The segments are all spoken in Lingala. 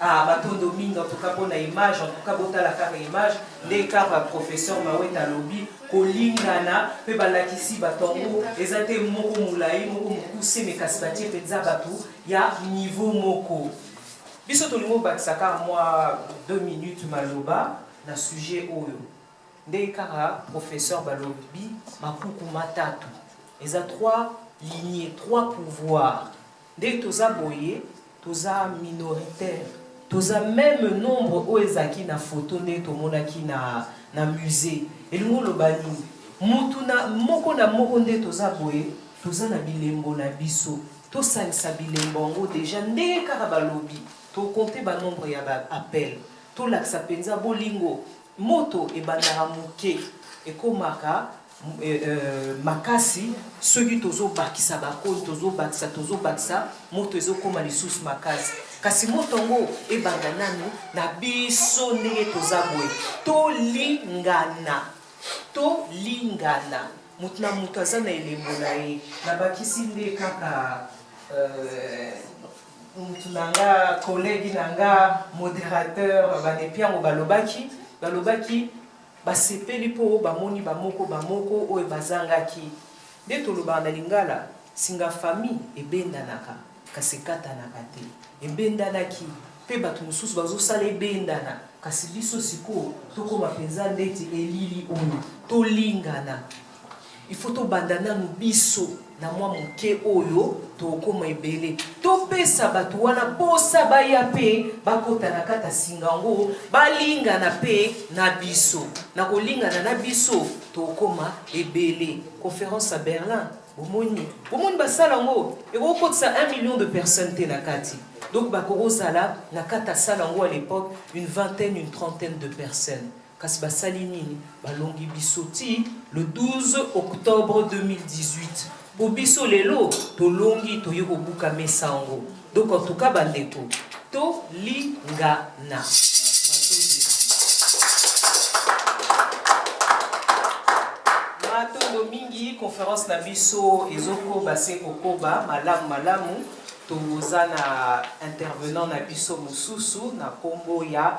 Ah, matondo mingi en tout cas pour la image, en tout cas botala kaka image, les kaka professeur Maweta Lobi, kolingana, pe balakisi batongo, eza te moko mulayi, moko mukuse, mais kasi batie penza batu, ya niveau moko. Biso tolingo bakisa kaka mwa 2 minutes maloba na sujet oyo. Ndenge kaka professeur balobi makuku matatu. Eza trois lignées, trois pouvoirs. Ndenge toza boye toza minoritaire toza meme nombre oyo ezalaki na photo ndenge tomonaki na na musee elingi oloba nini mutu na moko na moko nde toza boye toza na bilembo na biso tosangisa bilembo yango deja ndenge kaka balobi tokonte banombre ya baappel tolakisa mpenza bolingo Moto ebandaka moke, ekomaka makasi soki tozobakisa bakoni, tozobakisa tozobakisa, moto ezokoma lisusu makasi. Kasi moto yango ebanda nanu na biso ndenge toza boye, tolingana, tolingana, moto na moto aza na elembo na ye. Nabakisi nde kaka. mutu na nga collègue na nga modérateur bande piango balobaki balobaki basepeli mpo bamoni bamoko bamoko oyo bazangaki nde tolobaka na lingala singa famille ebendanaka kasi ekatanaka te ebendanaki mpe bato mosusu bazosala ebendana kasi biso sikoyo tokoma mpenza ndeti elili oyo tolingana Il faut tobanda nanu biso na mwa moke oyo tokoma ebele topesa bato wana mposa baya mpe bakota na kati ya singa yango balingana mpe na biso na kolingana na biso tokoma ebele conférence ya berlin bomoni bomoni basala yango ekoki kotisa 1 million de personnes te na kati donc bakokozala na kati ya sala yango à l'époque une vingtaine une trentaine de personnes Kasi basali nini? Balongi biso ti le 12 octobre 2018 po biso lelo tolongi toye kobuka mesa yango. Donc en tout cas bandeko tolingana. Matondo mingi, conference na biso ezokoba se kokoba malamu malamu. Toza na intervenant na biso mosusu na kombo ya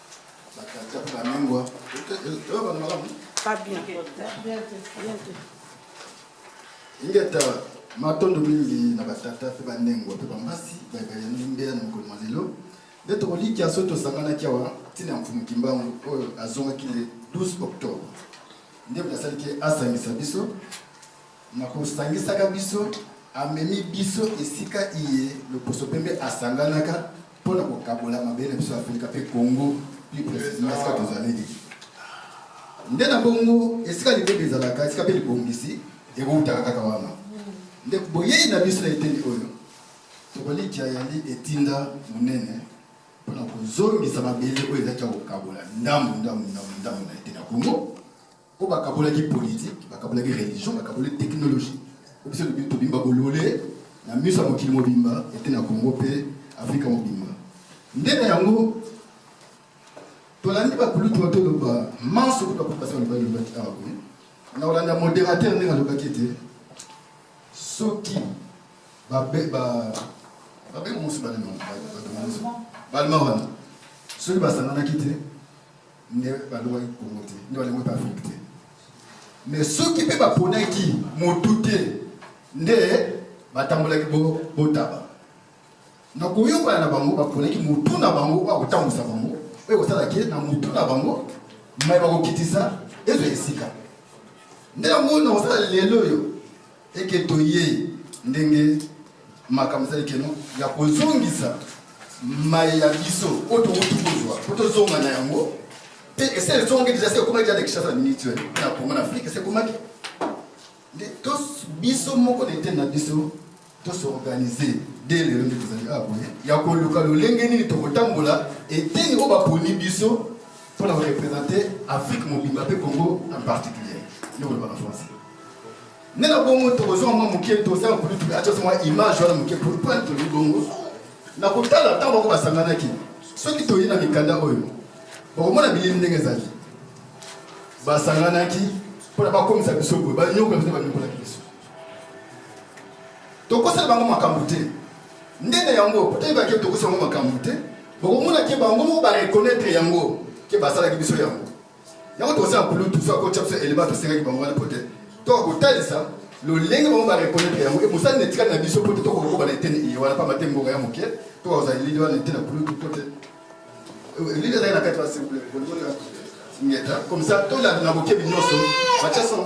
ingeta matondo mingi na batata mpe bandengwa mpe bambasi bayebayani mbeya na mokolo mwa lelo nde tokolikya soki tosanganaki awa ntina ya mfumu kimbangu oyo azongaki le 12 octobre nde asaliki asangisa biso Na kosangisaka biso, amemi biso esika iye loposo pembe asanganaka mpo na kokabola mabele na biso ya Afrika mpe Congo plus precisement esika tozaleli. Nde na bongo esika libebi ezalaka, esika mpe libongisi ekoutaka kaka wana. Nde boyei na biso na eteni oyo tokolikya yali etinda monene mpo na kozongisa mabele oyo ezalaki ya kokabola ndambo ndambo ndambo ndambo na eteni ya Congo po bakabolaki politike bakabolaki religion bakabolaki technologie po biso tobimba bolole na miso ya mokili mobimba ete na congo mpe afrika mobimba nde na yango tolandi bakulutu batoloba manso kuta kopasi balobaki lobaki awa boye na kolanda modérateur ndenge alobaki ete soki babengi mosu balema wana soki basanganaki te nde balongaki kongo te nde balongaki mpe afrike te me soki mpe baponaki motu te nde batambolaki botaba na koyokana na bango baponaki motu na bango oyo akotambwisa bango oyo ekosala ke na motu na bango mai bakokitisa ezwa esika nde yango na kosala lelo oyo et que toye ndenge makambo ezali keno ya kozongisa mai ya biso oyo towuti kozwa po tozonga na yango mpe esi ezongi deja se ekomaki deja na kinshasa na miniti oyo na kongo na afrika esi ekomaki nde biso moko na eteni na biso tosorganize de lelo nde tozali awa boye ya koluka lolenge nini tokotambola eteni oyo baponi biso mpo na korepresente afrike mobimba mpe congo en particulier nde kolobaka français Nena bongo tokozwa mwa moke tosala politique atyasa mwa image wana moke pourquoi toli bongo na kotala ntango bango basanganaki soki toyi na mikanda oyo bakomona bilili ndenge ezali basanganaki mpo na bakomisa biso boye banyokola biso banyokolaki biso tokosala bango makambo te ndenge yango potayeba ke tokosala bango makambo te bokomonaki bango moko bareconnaitre yango ke basalaki biso yango yango toza blutu so akotya biso elema tosengaki bango wana pote toka kotalisa lolenge bango barekonetre yango e mosali na etikali na biso pote toka kokoba na eteni iye wana mpamba te ngonga ya moke toka kozala elili wana ete na blutu pote elili ezali na kati wana simple ngeta comme ça tolanda na bokebi nyonso batya son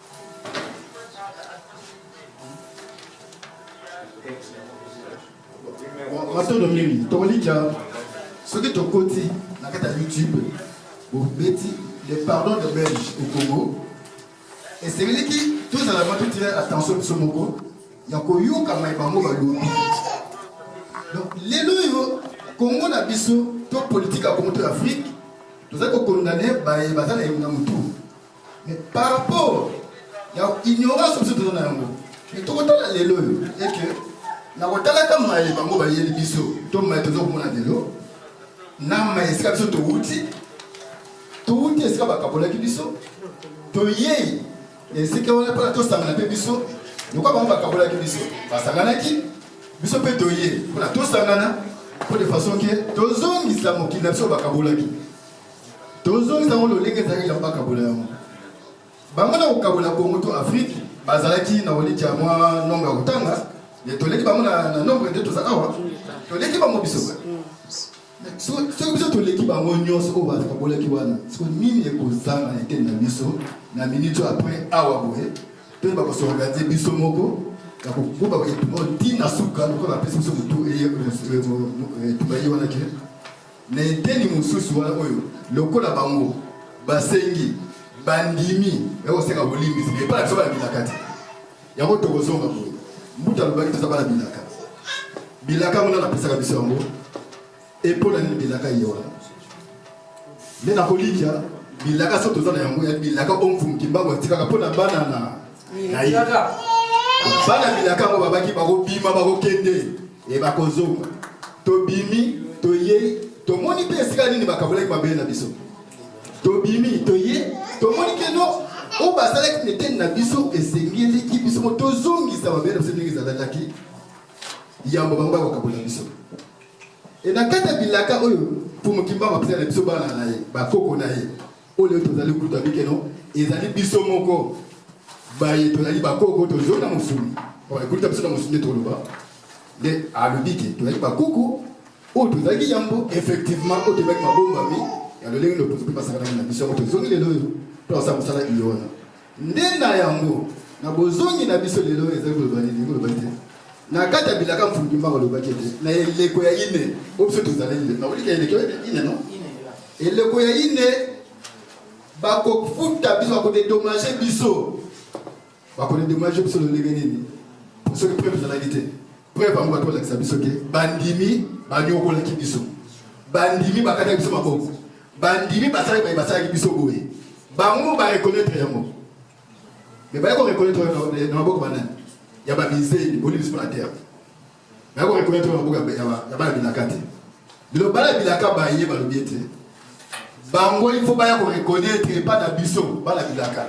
matondo mingi tokolika soki tokoti na kati ya youtube bobeti le pardon de belge au congo esengeliki tozala mwa totire attention biso moko ya koyoka mai bango balobi donc lelo oyo kongo na biso to politike ya kongo to ya afrike tozali kokondane baye baza na elonga motu Mais par rapport ya ignorance biso toza na yango mais tokotala lelo oyo eke na kotalaka maye bango bayeli biso to maye toza komona lelo na maye esika biso towuti towuti esika bakabolaki biso toyei esika wana mpona tosangana mpe biso lokola bango bakabolaki biso basanganaki biso mpe toye mpona tosangana mpo de façon ke tozongisa mokili na biso bakabolaki tozongisa yango lolenge ezalaki yango bakabola yango bango na kokabola kongo to afrike bazalaki na olitya mwa nombre ya kotanga toleki bango na nombre nde toza awa toleki bango biso soki biso toleki bango nyonso oyo bakabolaki wana siko nini ekozanga na eteni na biso na minute oyo apres awa boye mpe bakosorganize biso moko bakokoba etumba ntina suka lokola bapesi biso motu etumba ye wana ke Na eteni mosusu wana oyo lokola bango basengi bandimi ya kosenga bolimbisi epai na biso bana bilaka te yango tokozonga boye mbuta alobaki toza bana bilaka bilaka yango nana apesaka biso yango epo na nini bilaka ye wana nde nakolikya bilaka so toza na yango ya bilaka omfumki mbango atikaka mpo na bana na na ye bana bilaka yango babaki bakobima bakokende e bakozonga tobimi toyei tomoni mpe esika nini bakabolaki mabele na biso tobimi toye tomoni keno oyo basalaki na eteni na biso esengeleki biso mo tozongisa mabele na biso ndenge ezalaki yambo bango bakokabola biso e na kati ya bilaka oyo mfumu kimbangu apesaki na biso bana na ye bakoko na ye oyo leo tozali kutu abi ke no ezali biso moko baye tozali bakoko tozoi na mosuni bakulita biso na mosuni nde toloba nde alobi ke tozali bakoko oyo tozalaki yambo effectivement oyo tozalaki mabombami ya lolenge loposo mpe basakanaki na biso yango tozongi lelo oyo mpe basala mosala iyo wana Nde na yango, na bozongi na biso lelo ezali koloba nini? Koloba ete na kati ya bilaka mfungi mbango alobaki ete na eleko ya ine o biso tozali nde nakolika eleko ya ine no eleko ya ine bakofuta biso bakodedomage biso bakodedomage biso lolenge nini soki mpe tozalaki te Preuve yango bato balakisa biso te bandimi banyokolaki biso, bandimi bakataki biso maboko, bandimi basali baye basalaki biso boye, bango barekonetre yango me baye korekonetre na maboko banani ya bamizeli boli biso na terre baye korekonetre na maboko ya bana bilaka te lelo bana bilaka baye balobi ete bango il faut baya korekonetre epai na biso bana bilaka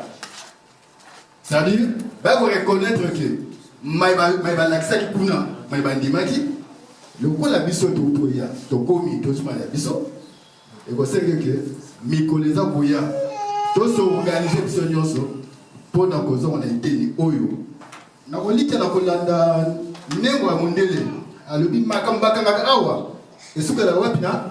C'est-à-dire, ba ko reconnaître que mai balakisaki kuna mai bandimaki lokola biso totoya tokomi tozuma ya biso ekosengi ke mikolo eza koya tosoorganize biso nyonso mpo na kozonga na eteni oyo na kolikya na kolanda ndengo ya mondele alobi makambo bakangaka awa esukela wapi na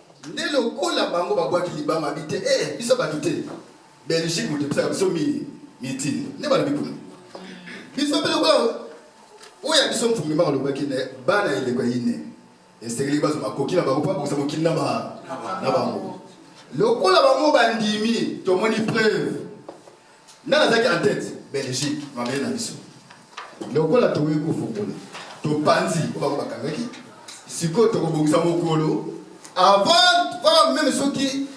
Nde lokola bango babwaki libanga abi te eh biso bato te Belgique moto episaka biso mi mitini nde balobi kuna biso mpe lokola oyo ya biso mfumi mbango alobaki na bana ya eleko ya ine esengeli bazo makoki na bango mpo bakokisa mokili na bango lokola bango bandimi tomoni preuve Nani azalaki en tete? Belgique, mabele na biso. Lokola tokoki kofungola, topanzi oyo bango bakangaki, sikoyo tokobongisa mokolo avant va meme soki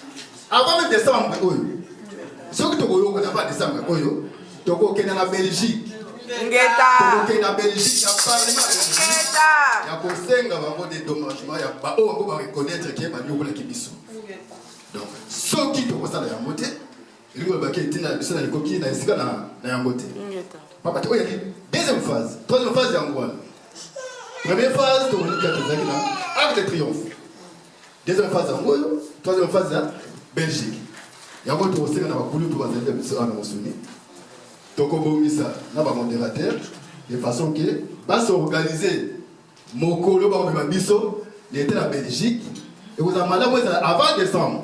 avant meme décembre oyo soki tokoyokana avant décembre oyo tokokenda na Belgique tokokende na belgique ya parlement ya kosenga bango dédommagement ya baoyo yango bareconnaitre ke banyokolaki biso donc soki tokosala yango te elingi koloba ke ntina na biso na likoki na esika na na yango te Ingeta. papa te oyo yaki deuxième phase troisième phase yango wana première phase tokolika tozalaki na arc de triomphe deuxième phase yango oyo troisième phase ya belgique yango tokosenga na bakulutu bazali na biso awa na mosuni tokobongisa na bamodérateur de façon ke basorganize mokolo bakomema biso leta na belgique ekozala malamu ezala avant décembre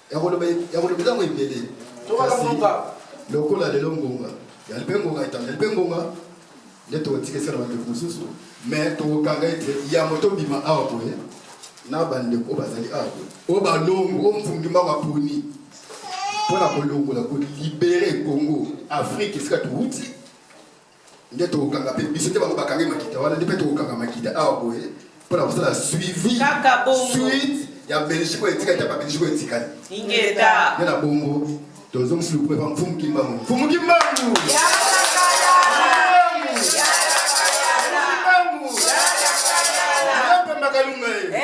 ya koloba ya koloba ntango ebele kasi lokola lelo ngonga yali mpe ngonga etandeli mpe ngonga nde tokotika esika na bandeko mosusu mais tokokanga ete yambo tobima awa boye na bandeko oyo bazali awa boye oyo balongo oyo mfungi mbango aponi mpo na kolongola kolibere congo afrike esika touti nde tokokanga mpe biso te bango bakangi makita wana nde mpe tokokanga makita awa boye mpo na kosala suivi suite ya belgique oyo etikali ta babelgique oyo etikali ingeta nde na bongo tozongisi lokumu epa mfumu kimbangu mfumu kimbangu kalunga ye